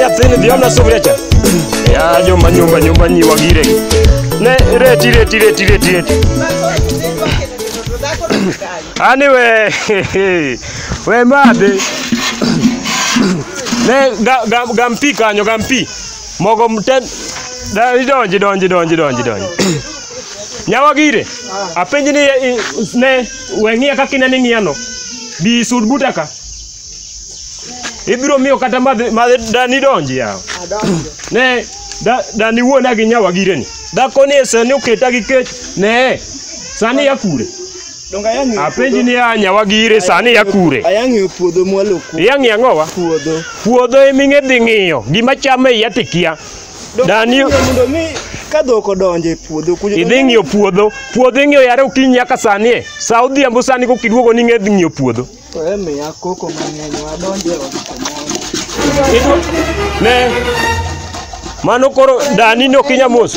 nyathini dhi omna sufria cha ya joma nyumba nyumba nyiwa gire ne reti reti reti reti reti ani we we madhi ne ga- ga- gampi kanyo gampi Mogo mten da idonji donji donji donji donji. Nyawa gire. Apenji ni eh, ne weng'ia kaka inani ng'iano. Bi sud buta ka. Ibiro miyo kata madhi madhi dani donji yawa. Adonjo. ne da, da ni wuona gi nyawa gire ni dhako ni sani oketa gi kech ne sani ya kure Donga yang ng'eyo. Apenji ni ya nyawagi ire sani ya kure. Ayang ng'eyo puodho mwalo ku. Ya ng'eyo ang'owa? Puodho. Puodho emi ng'e dhi ng'iyo. Gima chame iya tikia. Dani. Mondo mi ka dhok odonje puodho kujo. Idhi ng'iyo puodho. Puodho ing'iyo yare okinyi nyaka sani e. Sa odhiambo sani ko kiduogo ni ng'e dhi ng'iyo puodho. To emi ya koko mang'eny wadonje e Ne. Mano koro dani no kinya mos.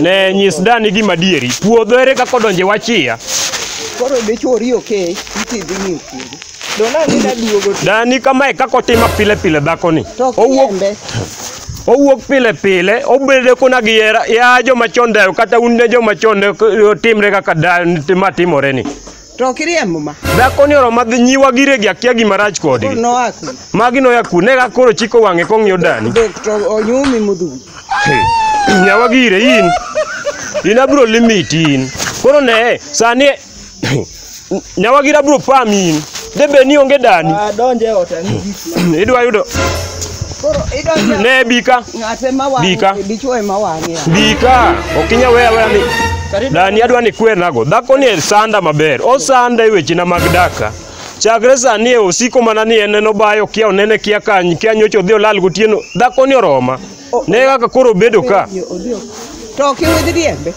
Ne nyis dani gima dieri. Puodho ere kaka odonje wachia. Koro be chori okay, iti dhi ni puodho. Dona ni daduogo. Dani kama e kaka otimo pile pile dhako ni. Owuok owuok pile pile obedo kuna gi ya joma chon dayo kata un ne joma chon timre kaka dayo ma timore ni To ok iriembo ma. Dhako ni oroma dhi nyiwa gire gi akia gima rach kodgi. Koro noa ku. Magi noya ku ne ga koro chiko wang'e kong'iyo dani. Dok to onyumi mudhuri. Nyawa gire in. In abro limit in. Koro ne sani nyawa gira bro pam in. Debe ni onge dani. Donje ota ni gik. Idwa yudo Koro idonjo Ne bika. ng'ate ma wang'e, Bika. dichwo ema wang'e. Bika. Ok inya weya weya ni. Dani adwa ni kwenago. Dhako ni sanda maber. Osanda e wechena mag daka. Chakre sani e osiko mana ni en en obayo kia onene kia kany kia nyocha odhi olal gotieno. Dhako ni oroma. Ne kaka koro obedo ka. To ok iwidh riembe.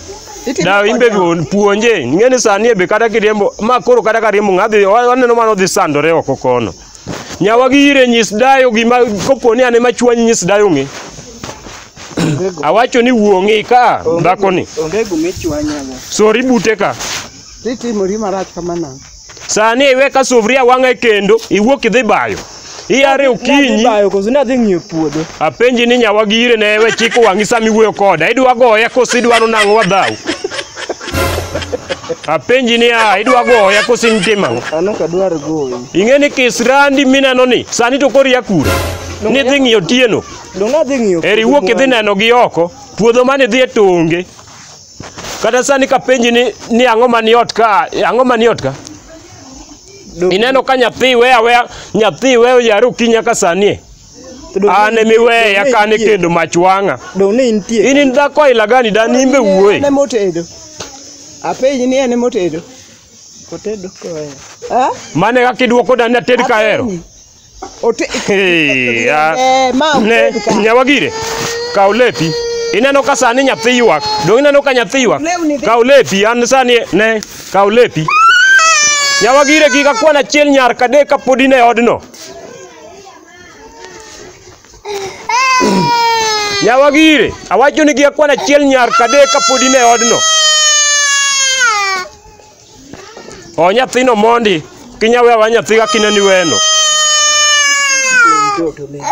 Itimo Da kode imbe ang'o? puonje. Ng'eni sani e be kata kiriembo ma koro kata kariembo ng'adhi waneno mano dhi sandore oko kono. Nyawa gi ire nyis dayo gima koponi ane machwanyi nyis dayo ng'e. Awacho ni wuong'i ka dhako ni. Onge gumi chwanya go. Sori bute ka. Titimori marach kamana. Sani iwe ka sufria wang'e kendo iwuok idhi bayo. Iyare okinyi. Bayo koso na dhi ng'iyo puodho. Apenji ni nyawa gi ire ne we chiko wang'i sami wuoyo koda. Idwa goya koso idwaro nang'o wadhaw. Apenji niya, idwa goya koso in tim ang'o? An ok adwar goyi. Ing'e ni kisrandi mineno ni sani to koro ia kure. Nidhi ng'iyo tieno. Donge adhi ng'iyo Eri wuok idhi neno gi oko. Puodho mane idhi e tonge. Kata sani kapenji ni ni ang'o mani ot ka, ang'o mani ot ka? Donge- Ineno ka nyathi weya weya, nyathi weyo yaro kinya ka sani. e. An ema iweya kan e kendo mach wang'a. Dong' ne intie. In in dhako aila gani dan in be wuoyi. En ema otedo. Apenji ni en ema otedo. Otedo koya. Ha? Mane kaka idwoko dan ni ated kahero. Apenji. Ote- Hey, ah, Eh, ma ne oted ka. nyawagire kaw lepi ineno ka sani nyathi ywak dong ineno ka nyathi ywak Lewni dhi- kaw lepi an sani ne kaw lepi nyawagire kik akwan achiel nyar kadek kapod in e odno Nyawagire, awacho ni gi akwana achiel nyar kadek kapod in e odno. O nyathino mondi, kinyawe awa nyathi ka kineni weno. Mtoto mimi.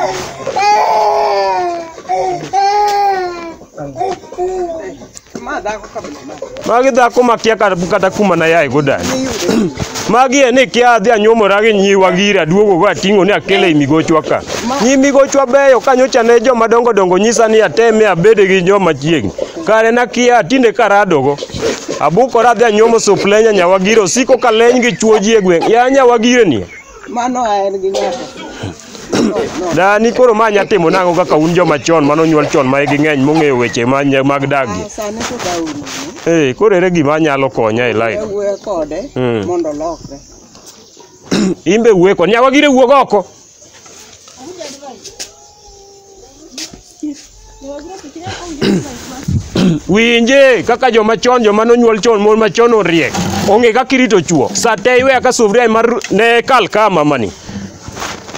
magi dhako makia kata kata kuma na yaye go dani magi e ni kia adhi anyuomora gi nyiwa gira duogo go ating'o ni akele i migochwa ka nyi migochwa beyo ka nyocha ne joma dongo dongo nyisa ni ateme abede gi joma chiegni kare nakia tinde karadogo abukora adhi anyuomo suplenya nyawagira osiko ka leny gi chuoji e gweng' ya nyawagireni Mano en gi nyaka. Dani koro ma nya timo nang'o kaka un joma chon mane onyuol chon ma igi ng'eny mong'eyo weche ma nya- mag dag gi. Sani to dawo nono. Eh, koro ere gima nyalo konya e life? Ewuoyo kode Mm. mondo olokre. Imbe wueko, nyawa gire wuog oko. Winje kaka joma chon joma nonyuol chon mon machon oriek. Onge kaka irito chuo. Sa te iwe aka sufria mar ne kal ka mamani.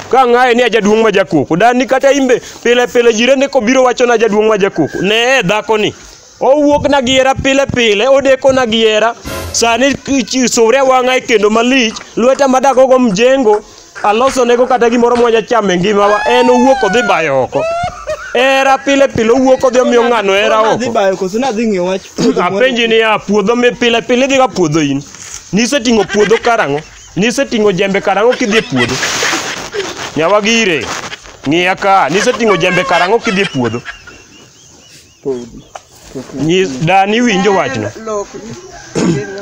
Ka ng'aye ni ajaduong' ma jakoko. Dan ni kata imbe pile pile jirende kobiro wachona jaduong' ma jakoko. Ne dhako ni. Owuokna gi hera pile pile, odekona gi hera. Sani chi- sure wang'a e kendo malich, lweta madagogo mjengo, alosonego kata gimoro mwanya chamo e ngimawa, en owuok odhi bayo oko. Hera pile pile owuok odhi omiyo ng'ano hera Koro nadhi oko. bayo koso nadhi ng'iyo wach puodho moro. Apenji niya, puodho mi pile pile idhiga puodho in? Niseting'o puodho karang'o? Niseting'o jembe karang'o kidhi e puodho? Nyawagire, ng'iya ka, niseting'o jembe karang'o kidhi e puodho? Nyis dani winjo wachno.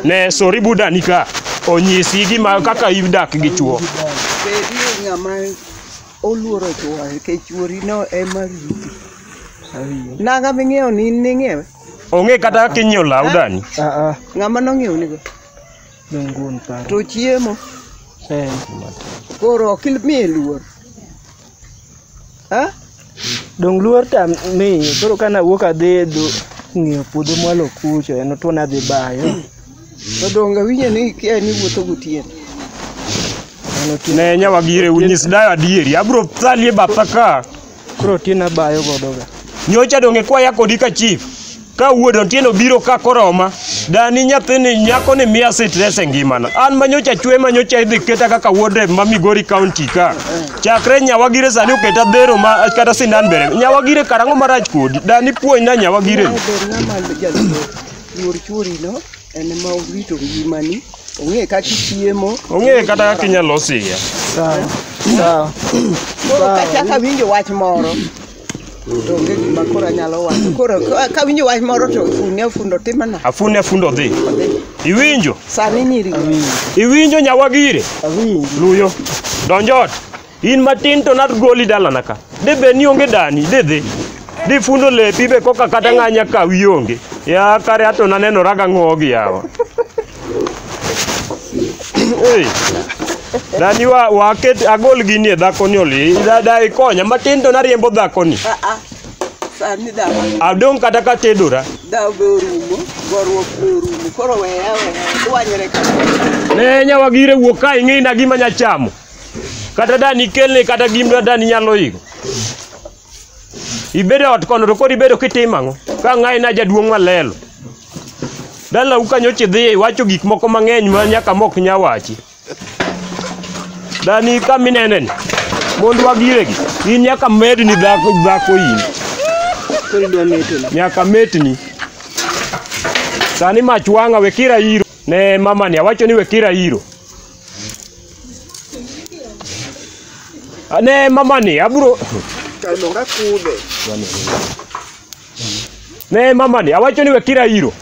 Ne sori buda ni ka onyisi gima kaka idak gi chuo. Bedie ng'ama oluoro chuo nikech chuorino ema riti. Nanga ming'iewo ni in ning'iewe? Onge kata kaka inyiewo law dani. Ng'ama nong'iewo nigo? To chiemo? Koro ok imiye luor. Ha? Dong luor tam mi koro kana wuok adhi dhu ng'iyo puodho mwalo kucho en to nadhi bayo. To donge winjo ni kia ni wuotho gotieno. Mano ti Ne nyawa gire unyis dayo adieri. Abro thalie batha ka. koro ti nabayo godo ga. Nyocha donge kwaya kodi ka chief. ka wuod otieno biro ka koroma dani nyathini nyako ni miya sitres e ngimana an manyocha chwe manyocha idhi keta kaka wuod rep ma migori county ka chakre nyawagire sani oketa dhero ma kata sindan bere nyawagire karang'o marach kodi dani puonjna nyawagire Mae ber ng'ama jaluor luor chworino en ma orito ngimani ong'e kaka ichiemo ong'eye kata kaka inyalo siya Sawa. Sawa. koro kachaka winjo wach moro To onge gima koro anyalo wacho. Koro ka- ka winjo wach moro to fundi afundo timana. Afune afundo odhi. Iwinjo? Sani nyiri. Iwinjo nyawagire? Luyo. Donj ot. In matin to nagoli dalana ka. De be ni onge dani, de dhi. Di fundo lepi be koka kata ng'anya ka wi onge. Ya kare ato nanenoraga ng'ogi yawa. Ei, Dani wa waket agol gini e dhakoni oli. Da da ikonya matin to nariembo dhakoni. Ah, ah. Sani dawa, Adong kata ka tedora. dawa be orumo, goruok be orumo. Koro weya weya, dwanyre ka. Ne nyawa gire wuok ka ing'ina gima nyachamo. Kata dani kelne kata gima dani nyalo iko. ibedo ot kono to kod ibedo kitimo ang'o ka ng'ayi na jaduong' malelo dalau kanyo chidhiye iwacho gik moko mang'eny ma nyaka mok nya wachi dani ka mineneni mondo wagiregi in nyaka medni dhako dhako in Koro idwa meto ni. nyaka metni sani mach wang'a wekira iro ne mamani awacho ni wekira iro Ne mamani, abro Kalonga kude. ne mamani, awacho ni wekira iro.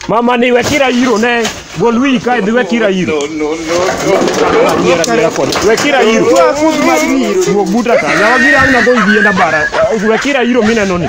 Mamani wekira iro ne gol wiyi kae dhi wekira iro. No, no, no, Nyiera nyiera kod. Wekira iro. Wuog buta ka. Yawa gira ang'na go yienda bara. Wekira iro mineno ni.